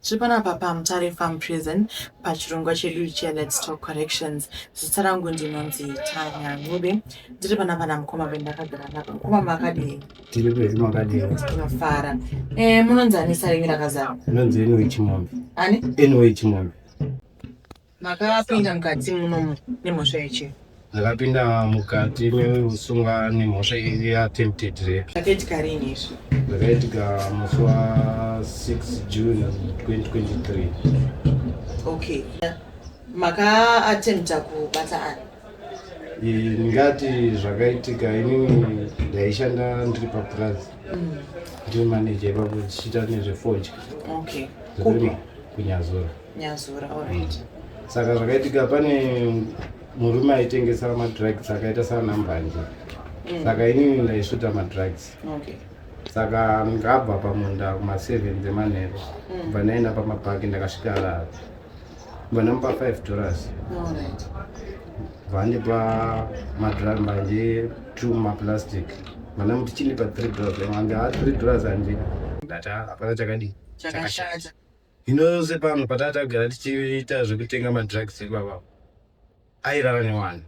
Tiri panapa paMutare Farm Prison pachirongwa chedu ichiya Let's Talk Corrections. Zita rangu ndinonzi Tanya Ncube. Ndiri panapa namukoma vendakagara navo. Mukoma makadii? Tiri pezi makadii? Tinofara. Eh, munonzi ani sare imi rakazara? Munonzi Enoe Chimombe. Ani? Enoe Chimombe. Makapinda mukati munomu nemhosva yechi. Ndakapinda mukati meusungwa nemhosva ya attempted rape. Zvakaitika rini izvi? Zvakaitika musi wa 6 June 2023. Okay. Maka attempta kubata ani? ndingati zvakaitika inini ndaishanda ndiri papurazi mm. ndiri maneja ipapo tichiita nezvefodya kunyazora nyazura already saka zvakaitika pane murume aitengesa madrugs akaita sana mbanje mm. saka inini ndaisvuta madrugs okay saka ngabva pamunda kuma7 dzemanheru mm. kubva ndaenda pamabhaki ndakasvika lava kubva ndamupa 5 dollars vandipa madrugs mbanje t maplastic vanamuti chindipa 3 dollars anga 3 dollars andina ndati hapana chakadii chakashata Hino yose pano patati agara tichiita zvekutenga madrugs ibaba airara newana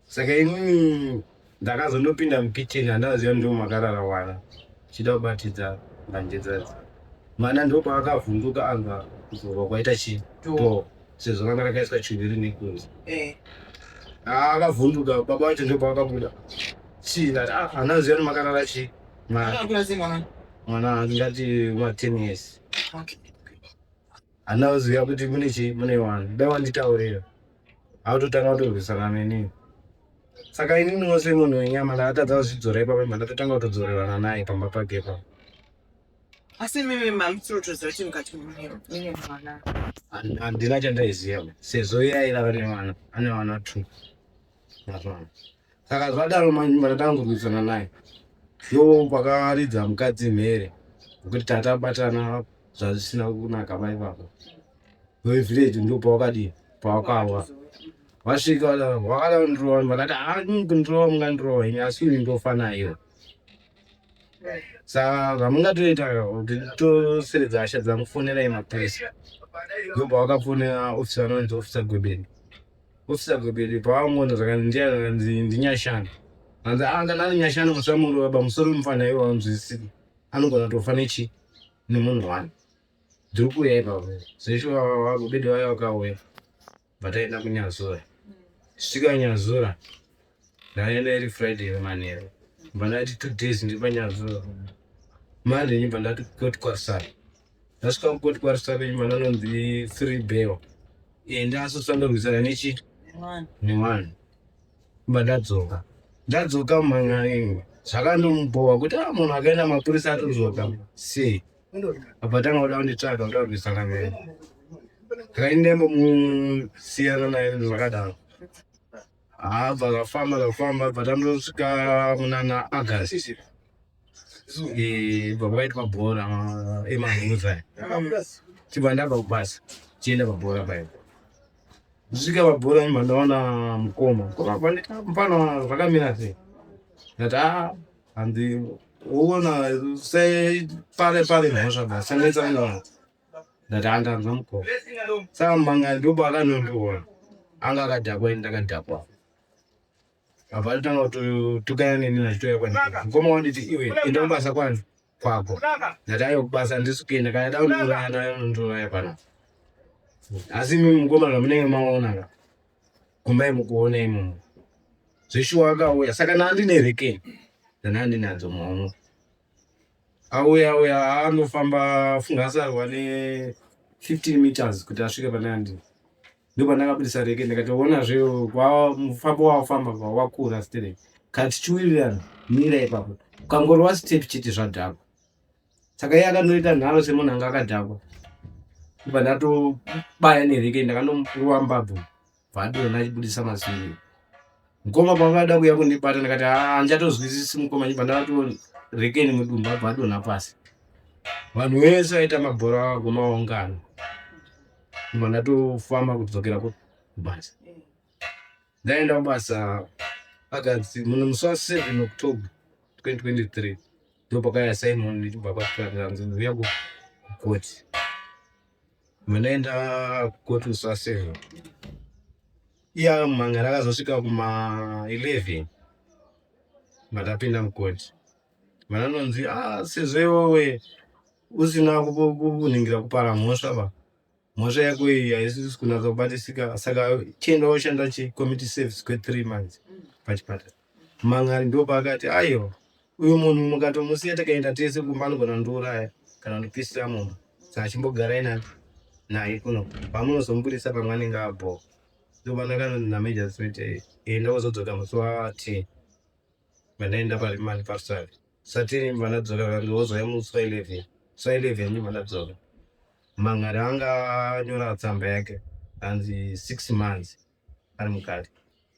saka inini ndakazondopinda mukitchen andaziva ndiwo makarara wana chida kubatidza mbanje dzadzi mwana ndopaakavhunduka anga kuzorwa kwaita chito sezvo ranga rakaiswa chuviri nekunzi eh. akavhunduka baba wacho ndopaakabuda chii ati ah, anaziva nemakarara chii mwana angati ma ten years handina kuziva kuti mune chii mune wani dai wanditaurira hautotanga kutorwisana nenini saka ini ndinose munhu wenyama ndaatadza kuzvidzora ipapo imba ndatotanga kutodzorerana naye pamba pake pa asi mimi mamutsirotoziva kuti mukati mune mwana handina chandaiziva sezvo iye airava nemwana ane vana two mazvana saka zvadaro manje vanatanga kurwisana naye yo pakaridza mukadzi mhere nekuti tata batana zvazvisina kunaka mai vako vevillage ndo pawakadii pawakawa vasvika wakada kundirova vakati ani kundirova mungandirova ini asi ini ndofa nayo saka zvamungatoita kuti toseredza hasha dzangu fonerai mapurisa ndo pawakafonera ofisa anonzi ofisa gwebeni Officer Gobele pavangoona zvakandiya zvakanzi ndinyashani. Hanzi ah kana ari nyashani musamuro baba musoro mufana iwo anzwisisiki. Anogona tofa nechi nemunhu wani. Ndiri kuuya ipapo. Zvesho Gobele vaya vakauya. Vataenda kunyazura. Svika nyazura. Ndaenda iri Friday yemanheru. Ndibva ndati two days ndiri panyadzo. Monday ndibva ndati kukoti kwarisara. Ndasvika kukoti kwarisara ndibva ndanonzi three bail. Enda asi usandorwisana nechi newani. Ndibva ndadzoka. Ndadzoka mumhan'aringu. Zvakandomubhowa kuti ah munhu akaenda mapurisa atodzoka. Sei? Abva tanga kuda kunditsvaga kuda kurwisana naye. Ndakaenda imbomusiyana naye zvakadaro. haa dzakafamba dzakafamba but anotosvika munana august bva kwaitwa bhora emahuza chibva ndabva kubasa chienda pabhora paipo zvisvika pabhora mba ndaona mukoma mukoma mfana zvakamira sei ndati a ah, handi uona separe pare mhosva basi sanetsanaa ndatandanza mukoma saka manga ndoba akanondiona anga akadhakwa ini ndakadhakwa abva atotanga kutukana neni nachitoya kwandii mukoma wanditi iwe enda kubasa kwanzi kwako ndatayo kubasa ndisukenda kana daundiuraya ndaundiuraya pano asi imi mukoma zvamunenge maonaka kumbai mukuona imomo zveshuwa akauya saka nandine rekeni ndanandinadzo maono Auye auye anofamba funga asarwa ne 15 meters kuti asvike pane andini. Ndipo ndakabudisa reke ndikatoona zve kwa mufambo wafamba kwa wakura stere. Kati chiwirirana mira ipapo. Kangorwa step chete zvadhakwa. Saka iye akanoita nharo semunhu anga akadhakwa. Ndipo ndato baya nereke ndakanomuruwa mbabvu. Bvadiro ndachibudisa mazino. Mukoma pavada kuya kundibata ndikati handichatozwisisi ah, mukoma nyimba ndavato rekeni mudumba bvadona pasi. Vanhu vese vaita mabhora avo kumaungano. Nyimba ndatofamba kudzokera kubasa. Ndaenda kubasa akadzi mune musi wa 7 October 2023 ndopakaya sainwa ndichibva kwakutanganzi uya kukoti. Munoenda kukotu sasero iya manga rakazosvika kuma 11 matapinda mukoti vananonzi ah, sezvo iwewe usina kuningira kupara mhosva va mhosva yako iyi haisisi kunatsa kubatisika saka chienda woshanda chicommittee service kwethree months pachipatara Mhan'ari ndopaakati, Aiwa, uyu munhu mukatomusiya tikaenda tese kumba anogona kundiuraya kana kundipisira mumba, saka chimbogarai nani naye kuno, pamunozomubudisa pamwe anenge abhowa. Ndopandakanoti naMajistrate, Enda wozodzoka musi wa 10 vandaenda parimandi paRusave satini ndibva ndadzoka kange wozouya musi wa 11 musi wa 11 ndibva ndadzoka mhan'ari anga anyora tsamba yake hanzi six months ari mukati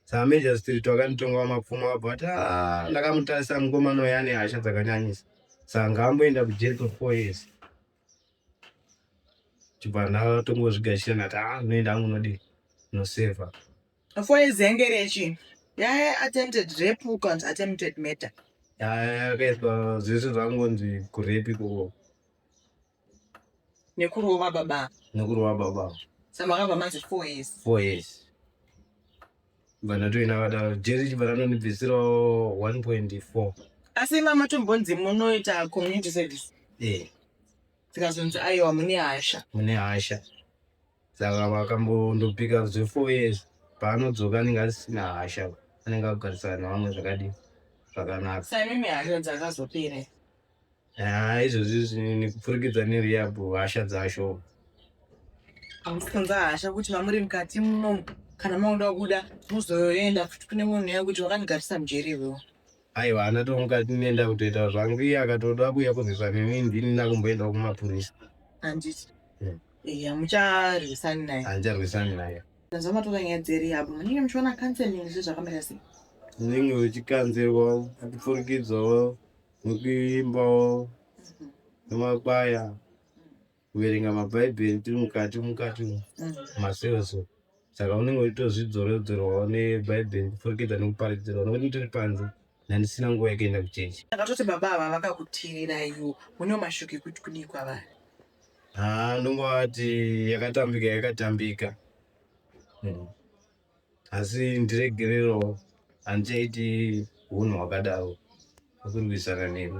saka major street wakanditonga wamapfumo wabva wati ah, ndakamutarisa mukomana uya ane hasha dzakanyanyisa saka ngaamboenda kujeri kwefour years chibva ndatongozvigashira ndati a ah, noenda angu nodii noseva four years yange rechi yaye attempted rape ukanzi attempted murder yakaitwa zvese zvangonzi kurepi koko nekurova baba nekurova baba samakabva manzi four years four years vanatoina vadaro jeri chibva ranonibvisirawo one point four asi mama tombonzi munoita community service ee tikazonzi aiwa mune hasha mune hasha saka vakambondopika zve four years paanodzoka anenge asisina hasha anenge akugarisana nevamwe zvakadii zvakanaka saimimi hasha dzakazopere Ah, izvozvi zvinini kupfurikidza nerehab hasha dzasho. Hamusi kunza hasha kuti mamuri mukati munomu kana makuda kuda muzoenda futi kune munhu uya kuti wakandigarisa mujeri iwewe. Aiwa ana to mukati nenda kutoita zvangu iye akatoda kuuya kurwisa neni ndini ndakumboendawo kumapurisa. Handiti. Mm. Eh, hamucharwisani naye. Handicharwisani naye. Tanzwa matora nyaya dzerehab munenge muchiona counseling zvezvakamira sei. Unenge uchikanzirwa kupfurikidzawo nokuimbawo nemakwaya kuverenga mabhaibheri tiri mukati mukati umu maseoso saka unenge uchitozvidzoredzerwawo nebhaibheri kupfurikidza nekuparidzirwa nokuti tiri panze nandisina nguva yekuenda kuchechi akatoti baba ava vakakutiriraio mune mashoko ekuti kudii kwavari haa ndongovati yakatambika yakatambika mm. asi ndiregererewo handichaiti hunhu hwakadaro hwekurwisana newe.